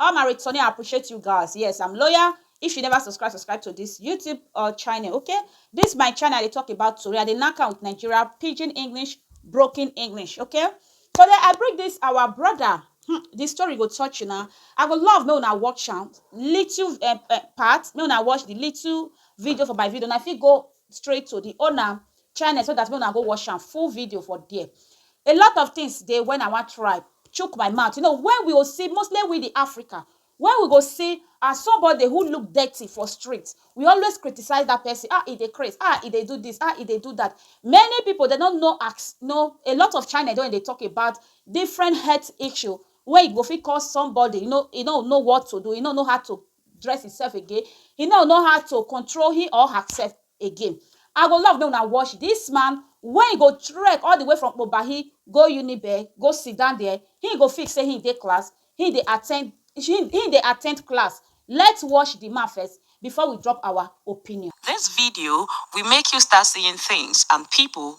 All my return I appreciate you guys yes I'm loyal if you never subscribe subscribe to this YouTube uh, channel okay this my channel I dey talk about tori I dey knack am with Nigeria pidgin English broken English okay today I bring this our brother hmm, the story go touch you now I go love make una watch am little uh, uh, part make una watch the little video for my video and I fit go straight to the owner channel so that make una go watch am full video for there a lot of things dey when i wan try chook my mouth you know when we go see mostly we the africa when we go see as somebody who look dirty for street we always criticize that person ah e dey craze ah e dey do this ah e dey do that many people they don't know ask no a lot of china don dey talk about different health issue wey e go fit cause somebody you know e no know what to do e no know how to dress himself again, he no know how to control him or herself again. I go love make una watch this man when he go trek all the way from Obahi go Unibe, go sit down there, he go feel say he dey class, he dey attend he dey attend class. Let's watch the man first before we drop our opinion. This video will make you start seeing things and people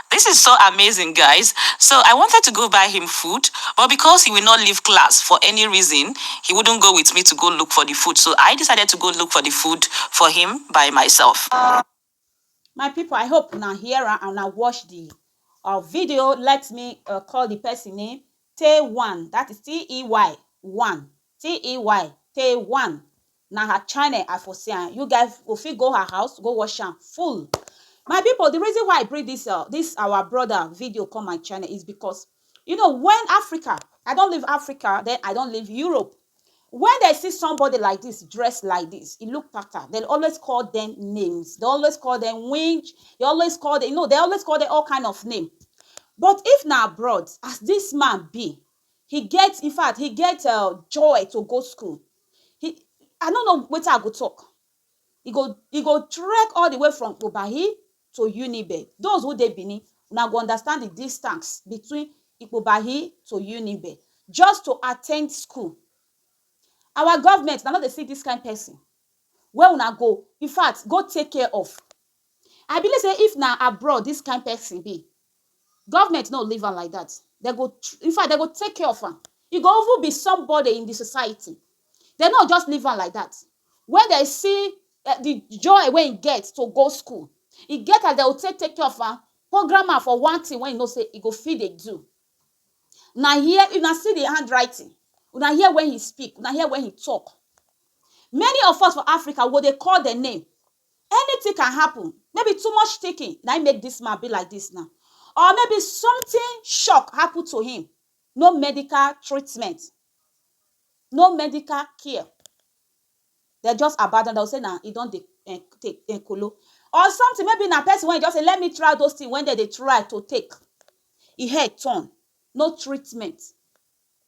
This is so amazing guys so I wanted to go buy him food but because he will not leave class for any reason he wouldn't go with me to go look for the food so I decided to go look for the food for him by myself. my people i hope una hear am and una watch the uh, video let me uh, call the person name tay one that is t-e-y one t-e-y tay one Na her channel I for see am, you guy go fit go her house go watch am full. My people the reason why I bring this uh this our brother video come my channel is because you know when Africa, I don leave Africa then I don leave Europe, when they see somebody like this dress like this, e look pattern, they always call them names, they always call them winch, they always call them, you know, they always call them all kind of name. But if na abroad, as this man be, he get, in fact, he get uh, joy to go school. he I no know wetin I go talk. He go he go trek all the way from Kpobahi to Unibe. Those who dey Benin, una go understand the distance between Ikpobahi to Unibe just to attend school. Our government, una no dey see dis kind person wey una go infact go take care of. I believe sey if na abroad dis kind person dey, Government no leave am like that. They go, in fact, they go take care of am. He go even be somebody in the society. They no just leave am like that. When they see uh, the joy when he get to go school, he get as they will take take care of am, program am for one thing when you know say he go feed dey do. Now here, you now see the handwriting. You now hear when he speak. You now hear when he talk. Many of us for Africa, what they call the name, Anything can happen, maybe too much thinking na im make dis man be like dis now or maybe something shock happen to him, no medical treatment, no medical care, dem just abandon, dem go say na e don dey take um kolo or something maybe na person wey e just say let me try those things wey dem dey try to take, e head turn, no treatment,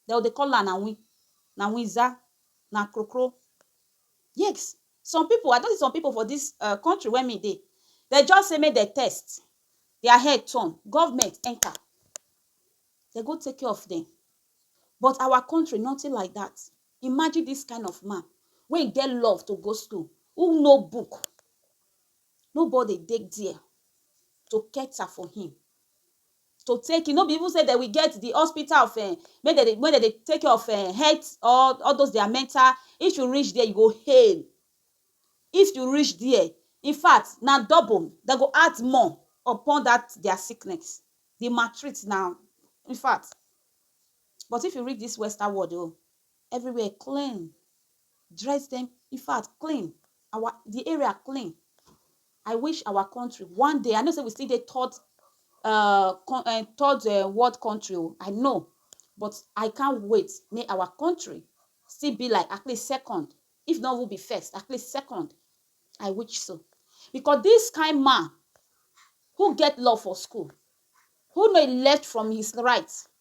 dem go dey call am na win, na winza, na krokro, yes. Some pipu, I don see some pipu for dis um country wey me dey, dem just say make dem test, dia head turn, government enter, dem go take care of dem. But our country, nothing like dat. Imagine dis kind of man wey get love to go school, who know book, nobody dey dia to cater for him. to take e no be even say dem will get the hospital of um make dem dey make dem dey take care of um health or all those their mental if you reach there you go hail if you reach there in fact na double dem go add more upon that their sickness the maltreat na in fact but if you reach this western world o Everywhere clean, dress dem, in fact clean, our the area clean. I wish our country one day, I know say we still dey third uh, uh, third uh, world country, oh, I know, but I can't wait make our country still be like at least second, if not will be first, at least second. I wish so. Because this kind man who get law for school, who know left from his right,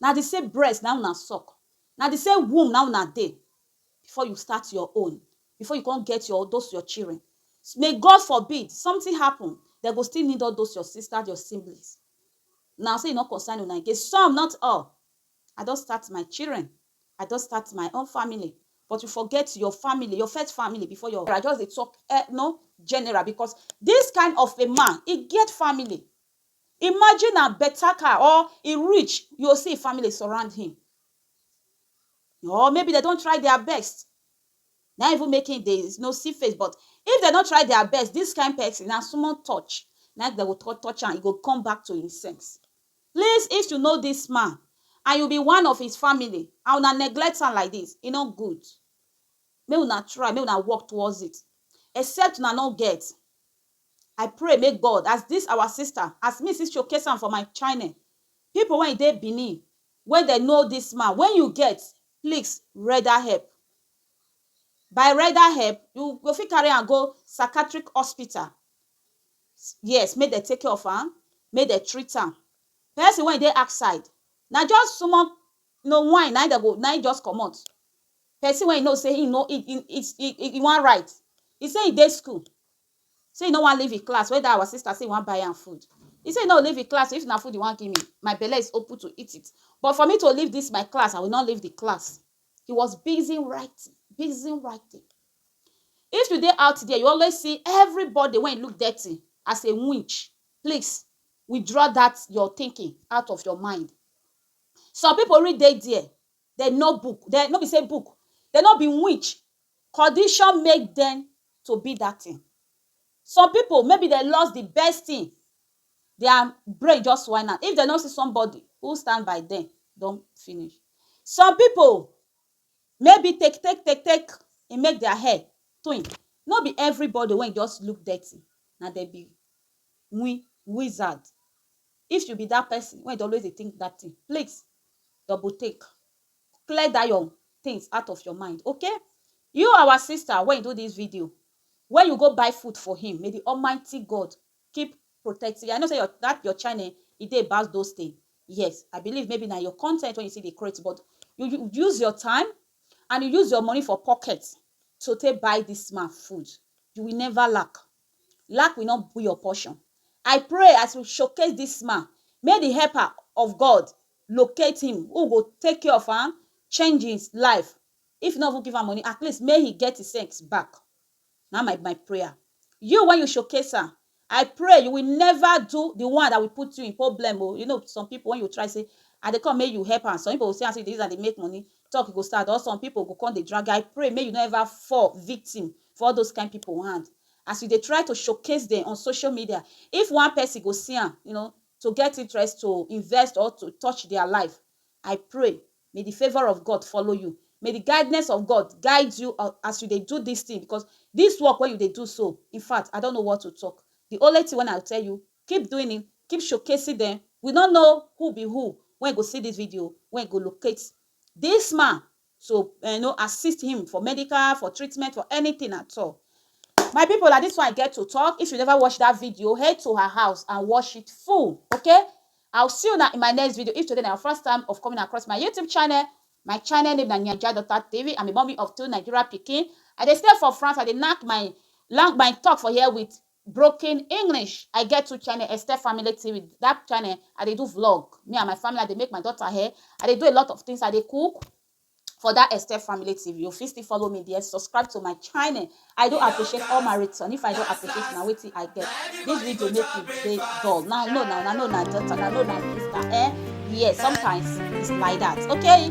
Na the same breast na im una suck, na the same womb na im una dey before you start your own, before you come get your those your children. May God forbid something happen, dem go still need all those your sisters, your siblings. Una say e no concern una again, some not all. I don start my children, I don start my own family but you forget your family, your first family before your. I just dey talk no general because this kind of a man e get family, Imagine na better car or e rich, you go see im family surround him or maybe dem don try their best na im even make him dey no see face but if dem no try their best this kind person na small touch na im dem go touch touch am e go come back to im sense. Please if you know this man and you be one of his family and una neglect am like this e no good make una try make una work towards it except una no get. I pray make God as this our sister as me see showcase am for my chine people when dey Benin when dem know this man when you get pleax reda help by reda help you go fit carry am go sacatrik hospital yes make dem take care of am make dem treat am person when dey outside na just small no wine na him dem go na him just comot person when you know say him no him him him him wan write he say him dey school Say he no wan leave him class wey that our sister say he wan buy am food. He say he no go leave him class oo if na food he wan give me my belle is open to eat it but for me to leave this my class I will not leave the class he was busy writing busy writing if you dey out there you always see everybody wey look dirty as a winch please withdraw that your thinking out of your mind some people really dey there dem know book dem no be say book dem no be winch condition make dem to be dat thing some people maybe dem lost the best thing their brain just whine am if dem no see somebody who stand by dem don finish some people maybe take take take take e make their head twin no be everybody wey just look dirty na dem be wi wizard if you be dat person wey dey always dey think bad thing please double take clear that your things out of your mind okay you our sister when you do this video when you go buy food for him may the almighty God keep protecting you I know say your that your channel e dey about those things yes I believe maybe na your content when you see the create but you, you use your time and you use your money for pocket to take buy this man food you will never lack lack will not be your portion I pray as you showcase this man may the helper of God locate him who go take care of am, change him life, if you no even give am money at least make he get him sense back na my my prayer, you wey you showcase am I pray you will never do the one that will put you in problem oo, you know some people when you try say I dey come make you help am some people go see am say you dey use am dey make money talk go start or some people go come dey drag you I pray make you no ever fall victim for all those kind people hand as you dey try to showcase dem on social media if one person go see am you know to get interest to invest or to touch their life, I pray may the favour of God follow you, may the guidness of God guide you as you dey do this thing because this work wey you dey do so, infact I don't know what to talk, the only thing wey I go tell you, keep doing it, keep showcasing them, we no know who be who wey go see this video, wey go locate this man to um no assist him for medical, for treatment, for anything at all. My people, na this one I get to talk. If you never watch that video, head to her house and watch it full, okay? I'll see you now in my next video. If today na your first time of coming across my YouTube channel, my channel name na Naija Daughter TV. I'm a mommy of two Nigeria pikin. I dey stay for France. I dey knack my long my talk for here with Broken English I get two channel Esther Family TV that channel I dey do vlog me and my family I dey make my daughter hair I dey do a lot of things I dey cook for that Esther Family TV you fit still follow me there subscribe to my channel I do appreciate all my return if I don appreciate na wetin I get this video make you dey dull now no now na no na daughter na no na sister eh yes sometimes it's like that okay.